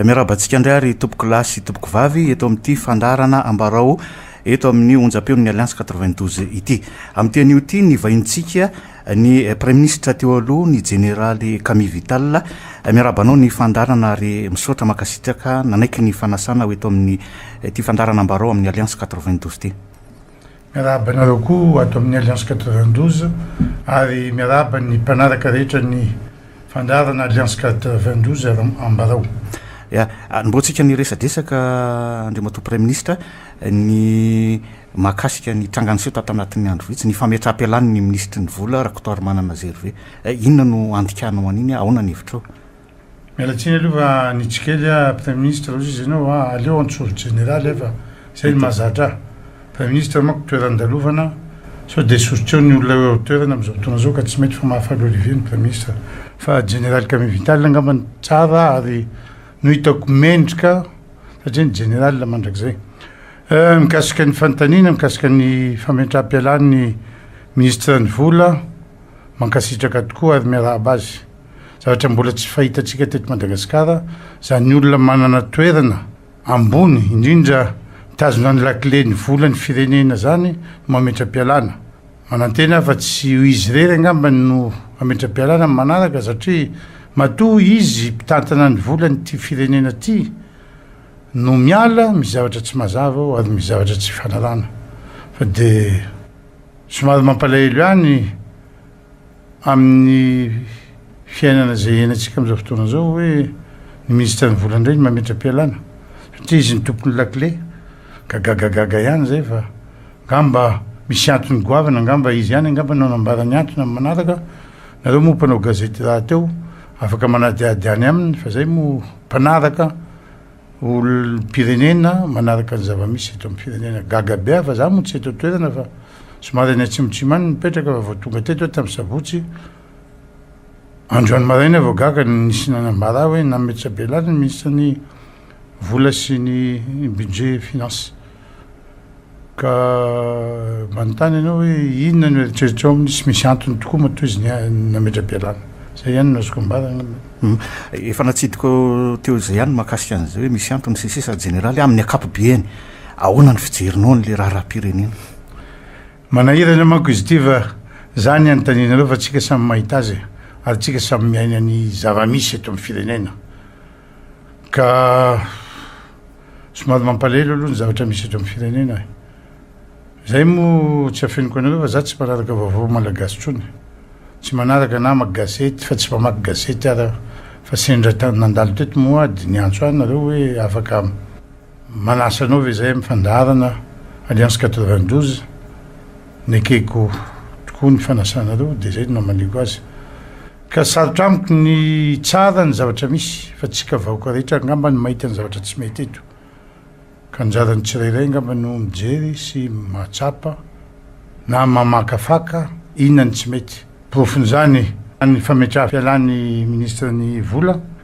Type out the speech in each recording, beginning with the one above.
miaraba antsika indray ary tompoko lahy sy tompoko vavy eto amin'ity fandarana ambarao eto amin'ny onjam-peon'ny alliance 92 ity amin'ity anio ity ny vahintsika Ny Praiminisitra teo aloha, ny Jeneraly Camille Vital, miarahaba anao ny fandaharana ary misaotra mankasitraka nanaiky ny fanasana ho eto amin'ny ity fandaharana Ambarao amin'ny Alliance quatre-vingt-douze ity. Miarahaba anareo koa ato amin'ny Alliance quatre-vingt-douze ary miarahaba ny mpanaraka rehetra ny fandaharana Alliance quatre-vingt-douze Ambarao. Anombohantsika ny resadresaka Andriamatoa Praiminisitra, ny. mahakasika ny tranga niseho tato anatin'ny andro vitsy, ny fametraham-pialan'ny minisitry ny vola, Rakotoarimanana Gervais. Eh, inona no andikànao an'iny? Ahoana ny hevitrao? Miala tsiny aloha fa hanitsy kely aho, praiminisitra hozy izy ianao a, aleo an-tsoro jeneraly aho fa izay no mahazatra ahy. Praiminisitra manko toeran-dalovana, sao dia sosotr'eo ny olona eo an-toerana amin'izao fotoana izao ka tsy mety fa mahafaly olivier ny praiminisitra. Fa jeneraly Camille Vital angamba no tsara ary no hitako mendrika satria ny jeneraly mandrakizay. Mikasika ny fanontaniana mikasika ny famentram-pialany ny Minisitra ny Vola, mankasitraka tokoa ary miarahaba azy. Zavatra mbola tsy fahitantsika teto Madagasikara izany olona manana toerana ambony indrindra mitazona ny lakile ny vola ny firenena izany no mametram-pialana. Manantena aho fa tsy izy irery angamba no hametram-pialana ny manaraka satria matoa izy mpitantana ny volan'ity firenena ity. No miala amin'ny zavatra tsy mazava aho ary ny zavatra tsy fanarahana fa dia somary mampalahelo ihany amin'ny fiainana izay iainantsika amin'izao fotoana izao hoe ny minisitra ny vola indray ny mametra-pialana satria izy ny tompon'ny lakile ka gagagaga ihany izay fa angamba misy antony goavana angamba izy ihany angamba no hanambara ny antony amin'ny manaraka nareo moa mpanao gazety rahateo Afaka manadihady any aminy fa zay moa mpanaraka olom-pirenena manaraka ny zava-misy eto amin'ny firenena. Gaga be aho fa za moa tsy eto an-toerana fa somary any Atsimotsimo any no mipetraka fa vao tonga teto aho tamin'ny sabotsy androany maraina aho vao gaga ny nisy nanambara ahy hoe nametra-belany ny minisitry ny vola sy ny budget finance. Ka manontany ianao hoe inona no eritreritrao amin'ny tsy misy antony tokoa matoa izy nametra-pialana. Izay ihany no azoko ambara angamba. Efa natsidiko teo izay ihany ny mahakasika an'izay hoe misy antony sy ny sisa. Jeneraly, amin'ny ankapobeany, ahoana ny fijerinao an'ilay raharaham-pirenena? Manahirana manko izy ity fa zany ny anontanianareo fa tsika samy mahita azy ary tsika samy miaina ny zava-misy eto amin'ny firenena. Ka somary mampalahelo aloha ny zavatra misy eto amin'ny firenena e! Zay moa tsy afeniko anareo fa za tsy mpanaraka vaovao malagasy tsony. Tsy manaraka na maka gazety fa tsy mpamaky gazety ary aho fa sendra tany nandalo teto moa dia niantso ahy nareo hoe afaka manasa anao ve zay amin'ny fandaharana Alliance quatre-vingt-douze? Nekeko tokoa ny fanasanareo dia zay no namaniko azy. Ka sarotra amiko ny hitsara ny zavatra misy fa tsika vahoka rehetra angamba no mahita ny zavatra tsy mety eto ka anjaran'ny tsirairay angamba no mijery sy mahatsapa na mamakafaka inona ny tsy mety. Porofon'izany ny fametraha-pialan'ny Ministra ny vola.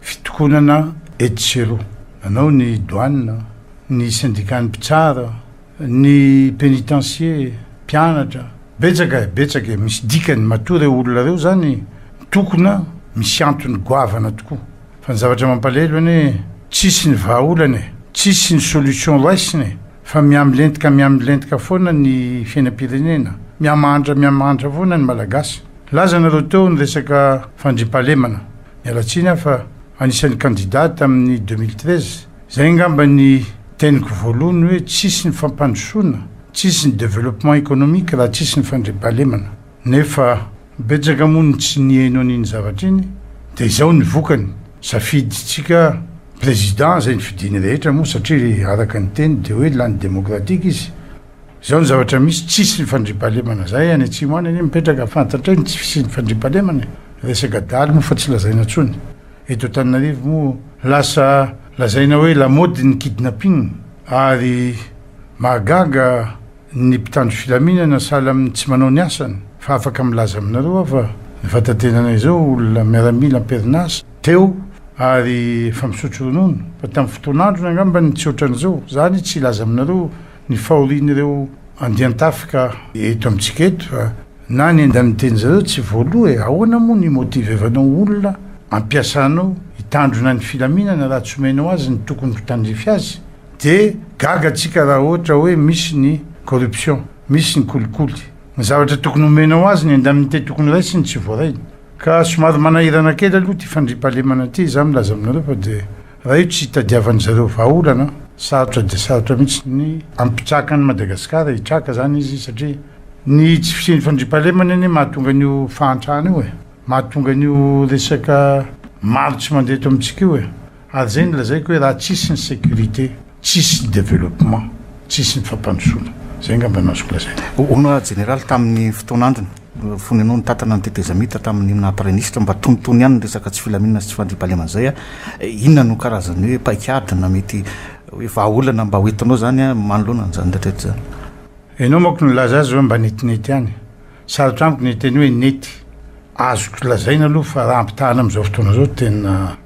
Fitokonana etsy sy eroa nanao ny douane, ny syndicat-n'ny mpitsara, ny pénitencier, mpianatra, betsaka e, betsaka e, misy dikany, matoa ireo olona ireo izany mitokona misy antony goavana tokoa, fa ny zavatra mampalahelo anie tsisy ny vahaolana e, tsisy ny solution raisina e, fa mihamilentika mihamilentika foana ny fiainam-pirenena, mihamahantra mihamahantra foana ny Malagasy. Laza nareo teo ny resaka fandriampahalemana. Miala tsiny aho fa anisan'ny kandida tamin'ny deux mille treize. Izay angamba ny teniko voalohany hoe tsisy ny fampandrosoana, tsisy ny développement économique raha tsisy ny fandriampahalemana. Nefa betsaka moa ny tsy nihaino an'iny zavatra iny dia izao ny vokany. Safidintsika président izay ny fidiany rehetra moa satria araka ny teny dia hoe lany démocratique izy. Izao ny zavatra misy, tsisy fandriampahalemana zay any atsimo any anie mipetraka fantatray ny tsy fisian'ny fandriampahalemana e! resaka daly moa fa tsy lazaina tsony, eto Antananarivo moa lasa lazaina hoe lamaody ny kidnapping ary mahagaga ny mpitandro filaminana sahala amin'ny tsy manao ny asany fa afaka milaza aminareo aho fa ny vatantenanay zao olona miaramila amperinasa teo ary efa misotro ronono fa tamin'ny fotoan'androny angambany tsy otran'izao zany tsy hilaza aminareo ny fahorian'ireo andian-tafika eto amintsika eto fa na ny andaninteny zareo tsy voaloa e, ahoana moa no himotivevanao olona ampiasanao hitandrona ny filaminana raha tsy omenao azy ny tokony ho tandrify azy de gaga tsika raha ohatra oe misy ny corruption, misy ny kolikoly, ny zavatra tokony omenao azy, ny indemnité tokony raisiny tsy voarainy ka somary manahirana kely aloha ty fandriampahalemana ty za milaza aminareo fa de. Raha io tsy hitadiavan-dry zareo vahaolana, sarotra dia sarotra mihitsy ny hampitsaka an'i Madagasikara, hitraka izany izy satria ny tsy fisian'ny fandriampahalemana anie mahatonga an'io fahantrana io e! mahatonga an'io resaka maro tsy mandeha eto amintsika io e! ary izay no lazaiko hoe raha tsisy ny sécurité, Tsisy développement, tsisy ny fampandrosoana. Izay angamba no azoko lazaina. Hono aho Jeneraly tamin'ny fotoana androny, fony ianao nitatana ny tetezamita tamin'ny naha Praiministra mba tonitony ihany ny resaka tsy filaminana sy tsy fandriampahalemana izay aho, inona no karazan'ny hoe paik'ady na mety hoe vahaolana mba hoentinao izany manoloana an'izany rehetra rehetra izany? Ianao manko no nilaza azy hoe mba netinety ihany. Sarotra amiko ny hiteny hoe nety. Azoko lazaina aloha fa raha ampitahana amin'izao fotoana izao tena.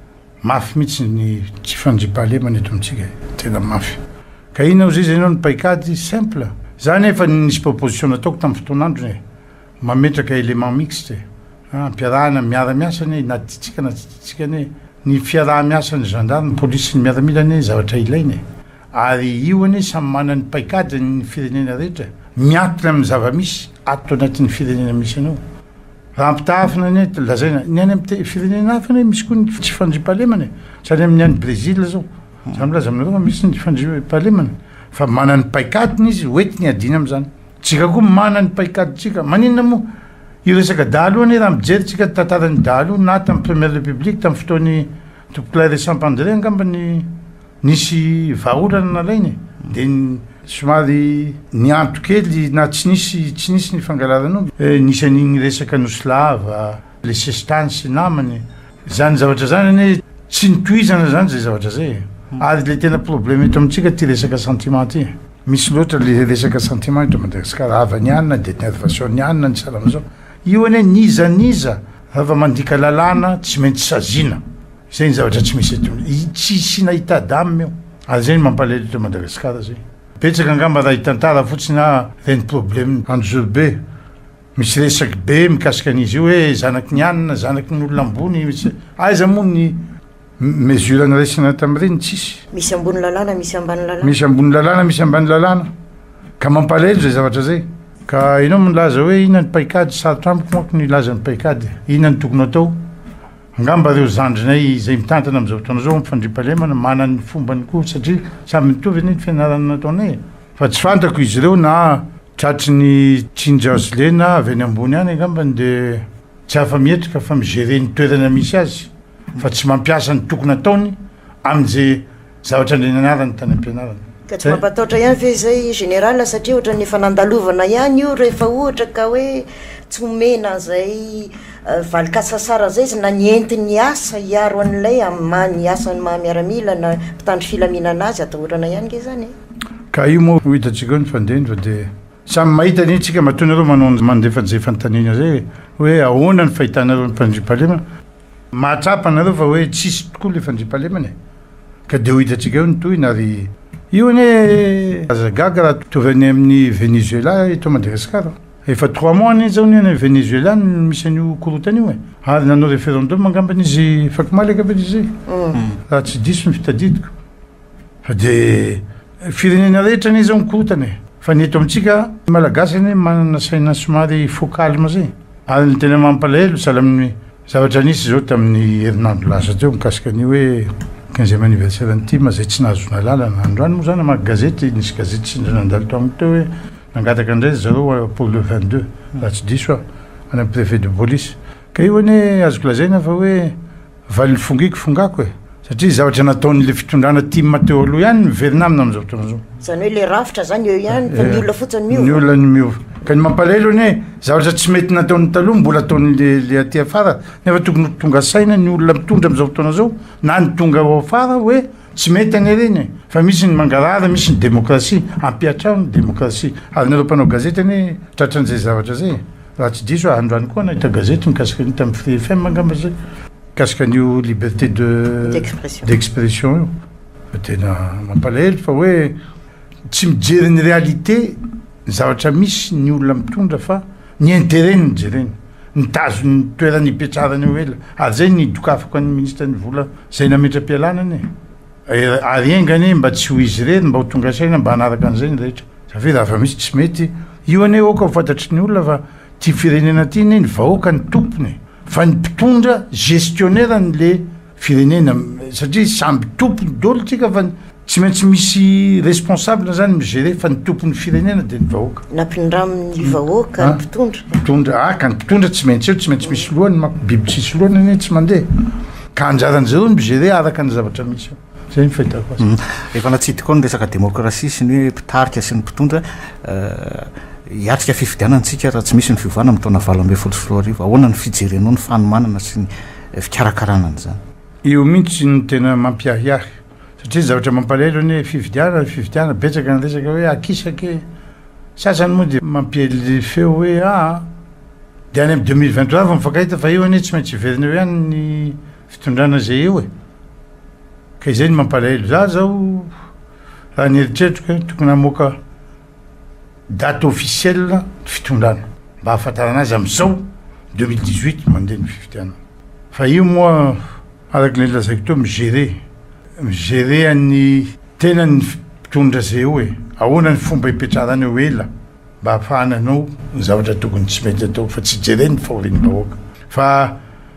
Mafy mihitsy ny tsy fandriampahalemana eto amintsika e! Tena mafy. Ka inona ozizy ianao ny paikady? Simple. Za anefa nisy proposition nataoko tamin'ny fotoan'androny e! Mametraka élément mixte e! Ampiarahana miara-miasa anie na tiantsika na tsy tiantsika anie e! Ny fiaraha-miasan'ny zandary, ny polisy sy ny miaramila anie zavatra ilaina e! Ary io anie samy manana ny paikadiny ny firenena rehetra e! Miankina amin'ny zava-misy ato anatin'ny firenena misy anao. Raha ampitahafina ny any, lazaina, ny any amin'ny te- firenena hafa anie misy koa ny tsy fandriampahalemana e. Tsy any amin'ny any Brezila zao. Za milaza aminareo fa misy ny fandriampahalemana. Fa manana ny paikadiny izy, ho entiny hiadiana amin'izany. Tsika koa manana ny paikadintsika. Maninona moa hiresaka dahalo anie raha mijery tsika ny tantaran'ny dahalo na tamin'ny première république, tamin'ny fotoan'ny Tompokolahy Ressam-Pandré angamba ny Nisy vahaolana nalaina e, dia somary nihanto kely na tsy nisy tsy nisy ny fangalaran'omby. Nisy an'iny resaka Nosy Lava, lesestany sy namany. Izany zavatra izany anie tsy notohizana izany izay zavatra izay e. Ary ilay tena problème eto amintsika ity resaka sentiment ity. Misy loatra ilay resaka sentiment eto Madagasikara. Havan'ny any na dia nervation'ny any na ny salan'izao. Io anie n'iza n'iza raha vao mandika lalàna tsy maintsy saziana. Zay ny zavatra tsy misy eto ny tsy isina état d'âme io ary zay ny mampalahelo eto Madagascar zay betsaka angamba raha hitantara fotsiny ah zay ny problème ny Anjozorobe misy resaky be mikasika an'izy io hoe zanaky ny anina zanaky ny olona ambony misy aiza moa ny mesure niraisina tamin'ireny tsisy. Misy ambony lalàna misy ambany lalàna. Misy ambony lalàna misy ambany lalàna ka mampalahelo zay zavatra zay ka enao milaza hoe inona ny paikady sarotra amiko manko ny hilaza ny paikady inona ny tokony atao Angamba ireo zandrinay izay mitantana amin'izao fotoana izao amin'ny fandriampahalemana manana ny fombany koa satria samy mitovy anie ny fianarana nataonay e! Fa tsy fantako izy ireo na tratry ny tsinjarzle na avy any ambony any angambany dia tsy afa-mietrika fa mi-gerer ny toerana misy azy fa tsy mampiasa ny tokony ataony amin'izay Zavatra indray nianarany tany am-pianarana. Ka tsy mampatahotra ihany ve izay Général satria ohatran'ny efa nandalovana ihany io rehefa ohatra ka hoe tsy omena an'izay valin-kasasara izay izy na ny entiny hiasa hiaro an'ilay amin'ny maha ny asan'ny maha miaramila na mpitandro filaminana azy atahorana ihany ange izany e! Ka io moa ho hitantsika eo ny fandinva dia samy mahita an'iny tsika matoa nareo manao ny mandefanjefa ny tany iny re hoe ahoana ny fahitanareo ny mpandriampahalemana Mahatsapa nareo fa hoe tsisy tokoa le fandriampahalemana e! Ka de ho hitantsika eo ny tohiny ary io anie aza gaga raha mitovy any amin'ny Venezuela eto Madagascar. Efa trois mois anie zao ny any Venezuela no misy an'io korontana io e! Ary nanao referendum angambany izy fakomaly angambany izy zay raha tsy diso ny fitadidiko. Fa de firenena rehetra anie zao mikorontana e! Fa ny eto amintsika Malagasy anie manana saina somary faux calme zay. Ary ny tena mampalahelo sahala amin'ny zavatra nisy zao tamin'ny herinandro lasa teo mikasika ny hoe quinzième anniversaire an'i Tim zay tsy nahazoana alalana. Androany moa zany namaky gazety, nisy gazety sendra nandalo tamiko teo hoe nangataka indray ry zareo pour le vingt deux raha tsy diso aho any amin'ny prefet de police Ka io anie azoko lazaina fa hoe valin'ny fongiko fongako e! Satria zavatra nataon'ilay fitondrana tim teo aloha ihany no miverina aminy amin'izao fotoana izao. Izany hoe ilay rafitra izany eo ihany fa ny olona fotsiny miova. Ny olona no miova. Ka ny mampalahelo anie zavatra tsy mety nataon'ny taloha mbola ataon'ilay aty afara nefa tokony ho tonga saina ny olona mitondra amin'izao fotoana izao na ny tonga ao afara hoe Tsy mety anie ireny e! Fa misy ny mangarahara, misy ny demokrasia. Ampiatrao ny demokrasia. Ary nareo mpanao gazety anie tratran'izay zavatra izay e! Raha tsy diso aho, androany koa aho nahita gazety mikasika an'io tamin'ny Free FM angamba izay, mikasika an'io liberté de d'expression io. Fa tena mampalahelo fa hoe tsy mijery ny réalité, ny zavatra misy, ny olona mitondra fa. Ny intérêt no jerena. Nitazona ny toerana ipetrarany eo ela. Ary zay ny dokafako an'ny ministre ny vola zay nametra-pialana anie. Ary enga anie mba tsy ho izy irery mba ho tonga saina mba hanaraka an'izay ny rehetra. Za ve raha fa misy tsy mety. Io anie aoka ho fantatry ny olona fa ty firenena ty anie ny vahoaka no tompony e. Fa ny mpitondra, gestionnaire-ny le. firenena satria samby tompony dolo tsika fa tsy maintsy misy responsable zany migere fa ny tompony firenena de ny vahoaka nampindramin'ny vahoaka ny mpitondra mpitondra aka ny mpitondra tsy maintsy eo tsy maintsy misy lohany ma biby tsisy lohany anie tsy mandeha ka anjaran'ny zareo ny migere araka ny zavatra misy eo zay ny fahitako azy efa natsidika ao ny resaka demokrasia sy ny hoe mpitarika sy ny mpitondra hiatrika fifidianana antsika raha tsy misy ny fiovana amin'ny taona valo ambin'ny folo sy roa arivo ahoana ny fijerenao ny fanomanana sy ny fikarakarana an'izany. Io mihitsy no tena mampiahiahy satria ny zavatra mampalahelo anie fifidianana fifidianana betsaka ny resaka hoe akisaky e! sasany moa dia mampiely feo hoe aa dia any amin'ny deux mille vingt trois vao mifankahita fa io anie tsy maintsy hiverina eo ihany ny fitondrana izay eo e! ka izay no mampalahelo. Za zao raha ny eritreritro tokony hamoaka Date officielle ny fitondrana mba ahafantarana azy amin'izao deux mille dix huit mandeha ny fifidianana. Fa io moa araka ilay lazaiko teo mi-gerer, mi-gerer an'ny tenany ny mpitondra izay eo e! Ahoana ny fomba ipetrarany eo ela mba hahafahany hanao ny zavatra tokony tsy mety atao fa tsy jeren'ny fahorian'ny vahoaka fa.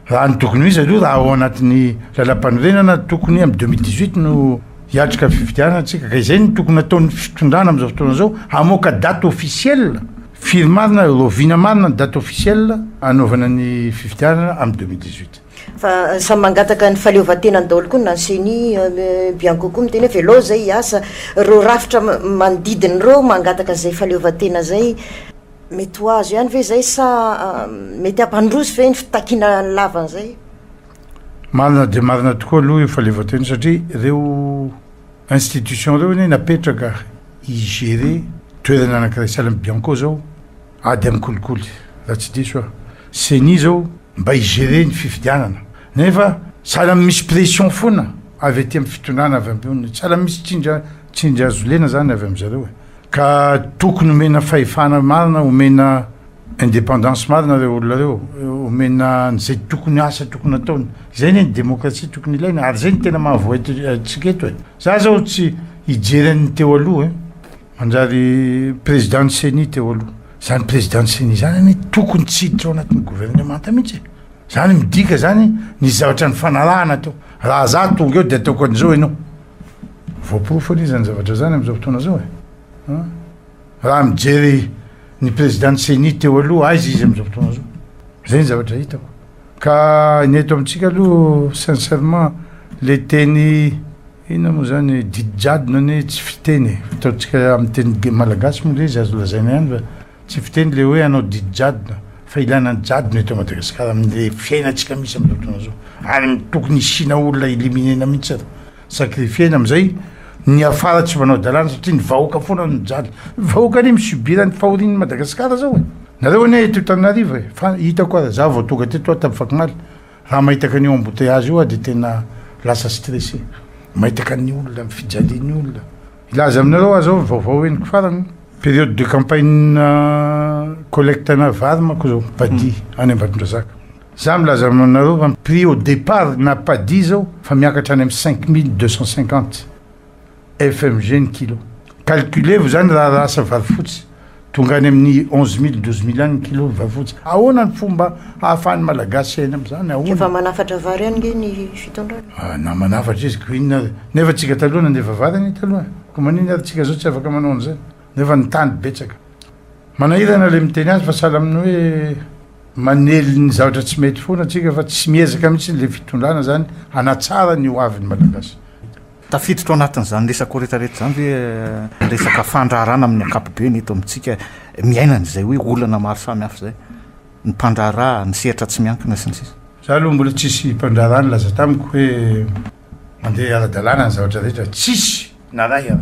Raha ny tokony ho izy aloha, raha ao anatin'ny lalam-panorenana, tokony amin'ny deux mille dix-huit no hiatrika fifidianana isika, ka izay no tokony hataon'ny fitondrana amin'izao fotoana izao, hamoaka date officiel, firy marina, rahoviana marina ny date officiel hanaovana ny fifidianana amin'ny deux mille dix-huit. Fa samy mangataka ny fahaleovantenany daholo koa na ny ceni, bianco koa miteny hoe velao izay hiasa, ireo rafitra manodidina ireo mangataka izay fahaleovantena izay, Mety ho azo ihany ve izay sa mety hampandroso ve ny fitakiana lava an'izay? Marina dia marina tokoa aloha io fahaleovantena satria ireo institutions ireo anie napetraka hi-gérer toerana anankiray sahala amin'i Bianco izao ady amin'ny kolikoly raha tsy diso aho. Ceni izao mba hi-gérer ny fifidianana nefa sahala amin'ny misy pression foana avy aty amin'ny fitondrana avy ambony, sahala amin'ny misy tsindry tsindry hazo lena izany avy amin-dry zareo e. Ka tokony omena fahefana marina, omena independance marina ireo olona ireo, omena an'izay tokony asa tokony ataony. Izay anie ny demokrasia tokony ilaina, ary izay no tena mahavoa eto antsika eto e! Za zao tsy hijery an'ny teo aloha e! Manjary président ny ceni teo aloha. Zany président ny ceni zany anie tokony tsy hiditra ao anatin'ny gouvernemanta mihitsy e! Zany midika zany nisy zavatra nifanarahana teo. Raha za tonga eo de ataoko an'izao ianao. Voaporofo anie izany zavatra izany amin'izao fotoana izao e! Raha mijery ny prezidan'ny ceni teo aloha, aiza izy amin'izao fotoana izao? Izay ny zavatra hitako. Ka ny eto amintsika aloha sincèrement le teny inona moa izany didijadona anie tsy fiteny e! Ataontsika amin'ny teny malagasy moa ve izy azo lazaina ihany va? Tsy fiteny le hoe hanao didy jadona fa ilana ny jadona eto Madagascar amle fiainantsika misy amzao fotoana zao ary tokony hisiana olona eliminena mihitsy ary sacrifiena amzay ny hiafara tsy manao dalàna satria ny vahoaka foana no mijaly, ny vahoaka anie mi subir ny fahorian'ny Madagascar zao e! Nareo anie eto Tananarivo e! fa hitako ary za vao tonga teto aho tam fakomaly raha mahitaka an'io embouteillage io aho de tena lasa stressé mahitaka ny olona ny fijalian'ny olona Hilaza aminareo aho zao ny vaovao henoko farany, période de campagne-na collecte-na vary manko zao, padi, any Ambatondrazaka. Za milaza aminareo fa ny prix au départ na padi zao fa miakatra any amin'ny cinq mille deux cent cinquante FMG ny kilo. Calculez-vous zany raha lasa vary fotsy. Tonga any amin'ny onze mille, douze mille any ny kilo ny vavoja. Ahoana ny fomba hahafahan'ny Malagasy hiaina amin'izany? Ahoana? Efa manafatra vary ihany ange ny fitondrana. Ah, na manafatra izy, koa inona ary? Nefa antsika taloha nandefa vary anie taloha e! Koa manina ary antsika izao tsy afaka manao an'izay? Nefa ny tany betsaka. Manahirana ilay miteny azy fa sahala amin'ny hoe manely ny zavatra tsy mety foana antsika fa tsy miezaka mihitsy ilay fitondrana izany hanatsara ny hoavin'ny Malagasy. Tafiditra ao anatin'izany resako rehetrarehetra izany ve ny resaka fandraharahana amin'ny ankapobeny eto amintsika miaina an'izay hoe olana maro samihafa izay? Ny mpandraharaha, ny sehatra tsy miankina, sy ny sisa. Izaho aloha mbola tsisy mpandraharaha nilaza tamiko hoe mandeha ara-dalàna ny zavatra rehetra, tsisy na iray aho.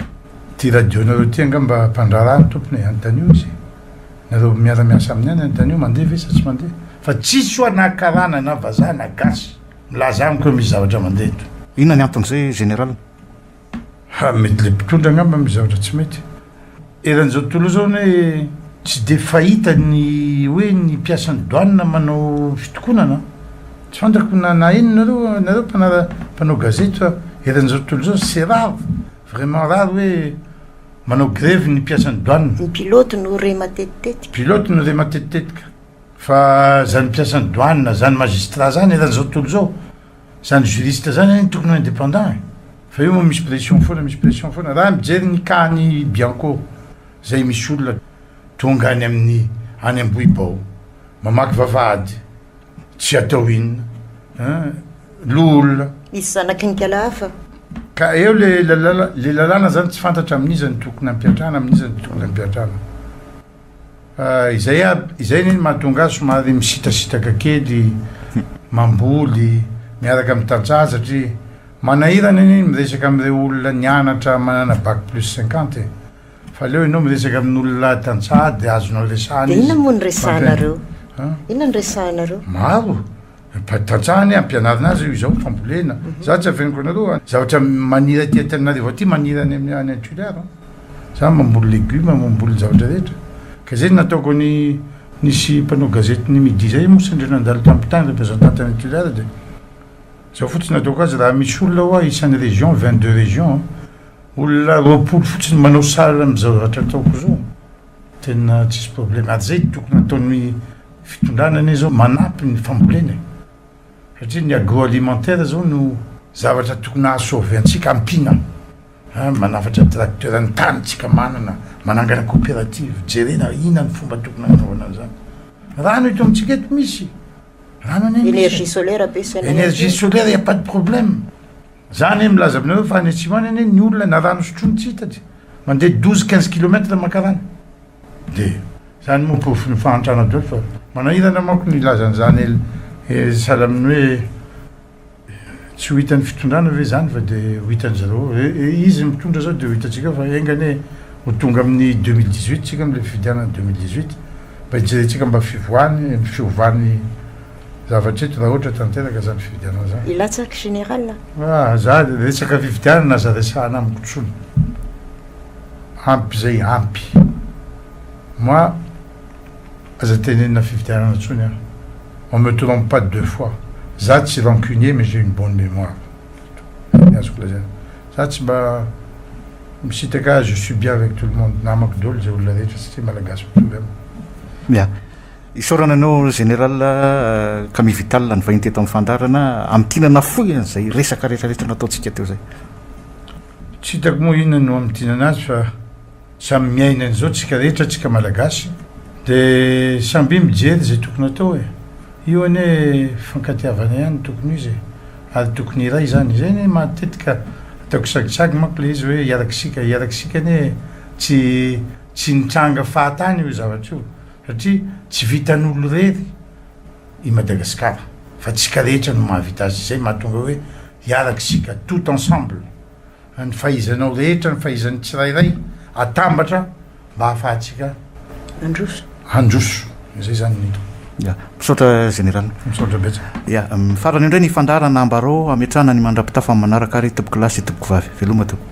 Ity radio-nareo ity angamba mpandraharaha ny tompony e, anontanio izy e! Nareo miara-miasa aminy any anontanio mandeha ve sa tsy mandeha? Fa tsisy ho'a na karana na vazaha na gasy. Milaza amiko hoe misy zavatra mandeha eto. Inona ny anton'izay Général? Ha, mety ilay mpitondra angamba misy zavatra tsy mety. Eran'izao tontolo izao anie tsy dia fahita ny hoe ny mpiasan'ny douane manao fitokonana. Tsy fantako na na inona nareo, nareo mpanara, mpanao gazety fa eran'izao tontolo izao c'est rare, vraiment rare hoe manao grevy ny mpiasan'ny douane. Ny pilote no re matetitetika. Pilote no re matetitetika. Fa zany mpiasan'ny douane na zany magistrat zany eran zao tontolo zao, zany juriste zany anie tokony ho indépendant e! Fa io moa misy pression foana misy pression foana, raha mijery ny cas an'i Bianco zay misy olona tonga any amin'ny any Ambohibao mamaky vavahady tsy atao inona an! Loholona. Misy zanaky ny kala hafa. Ka eo le lalàna zany tsy fantatra amin'iza no tokony ampiantrana amin'iza no tokony ampiantrana. Izay aby, izay anie no mahatonga ahy somary misitrasitraka kely, mamboly miaraka amin'ny tantsaha satria manahirana anie ny miresaka amin'ireo olona nianatra manana bac plus cinquante e! Fa aleo ianao miresaka amin'olona tantsaha dia azonao resahana izy. Dia inona moa no resahanareo? Inona no resahanareo? Maro! Mba tantsaha anie ampianarina azy io izao fambolena. Za tsy afeniko anareo a. Zavatra maniry aty Antananarivo aty maniry any amin'ny any Toliara an. Za mamboly legume, mamboly ny zavatra rehetra. Ka zay no nataoko ny nisy mpanao gazety ny midi zay moa sendra nandalo tamin'ny tany representant tany Toliara dia zao fotsiny nataoko azy raha misy olona hoa isan'ny région, vingt deux régions an, olona roapolo fotsiny manao sahala amin'izao zavatra ataoko izao. Tena tsisy problème ary zay tokony ataon'ny fitondrana anie zao manampy ny fambolena e! satria ny agro alimentaire zao no zavatra tokony aha sauver antsika ampiana an! manafatra tracteur ny tany tsika manana manangana coopérative jerena ina ny fomba tokony hanaovana an'zany rano eto amintsika eto misy rano anie misy e! energie solaire be sy energie solaire il n'y a pas de problème. Za anie milaza aminareo fa any atsimo any anie ny olona na rano sotroiny tsy hita de mandeha douze quinze kilomètre mankarany de. Zany moa porofon'ny fahantrana daholo fa manahirana manko ny hilaza an'izany el sahala amin'ny hoe tsy ho hitan'ny fitondrana ve izany fa de ho hitan'izy ireo hoe izy no mitondra zao de ho hitantsika fa enga anie ho tonga amin'ny deux mille dix huit tsika amle fifidianana deux mille dix huit mba hijerentsika mba fivoahany fiovany Zavatra eto rahotra tanteraka izany fifidianana izany. Hilatsaka général a. Ah za resaka fifidianana aza resahana amiko intsony. Ampy izay ampy. Moi aza tenenina fifidianana intsony aho. On me trompe pas deux fois. Za tsy rancunier mais j'ai une bonne mémoire. Zay ny azoko lazaina. Za tsy mba misitraka je suis bien avec tout le monde. Namako daholo izay olona rehetra satria malagasy mitory amiko. Ya. Isaorana anao Général Camille Vital nivahiny teto amin'ny fandaharana amin'ny tiana nafoy an'izay resaka rehetra rehetra nataontsika teo izay. Tsy hitako moa inona no hamintinana azy fa samy miaina an'izao tsika rehetra tsika Malagasy de samby mijery izay tokony atao e! Io anie fankatiavana ihany tokony ho izy e! Ary tokony hiray izany, izay anie matetika ataoko sagisagy manko ilay izy hoe hiarak'isika, hiarak'isika anie tsy tsy nitranga fahatany io zavatra io. Satria tsy vitan'olon-drery i Madagasikara fa tsika rehetra no mahavita azy izay mahatonga hoe hiaraka isika tout ensemble ny fahaizanao rehetra ny fahaizan'ny tsirairay atambatra mba ahafahantsika Handroso. handroso izay izany ny hita. Ya, misaotra Général. Misaotra betsaka. Ya, farany indray ny fandaharana ambarao hametrahana ny mandra-pitafa manaraka ary tompokolahy sy tompoko vavy. Veloma tompoko.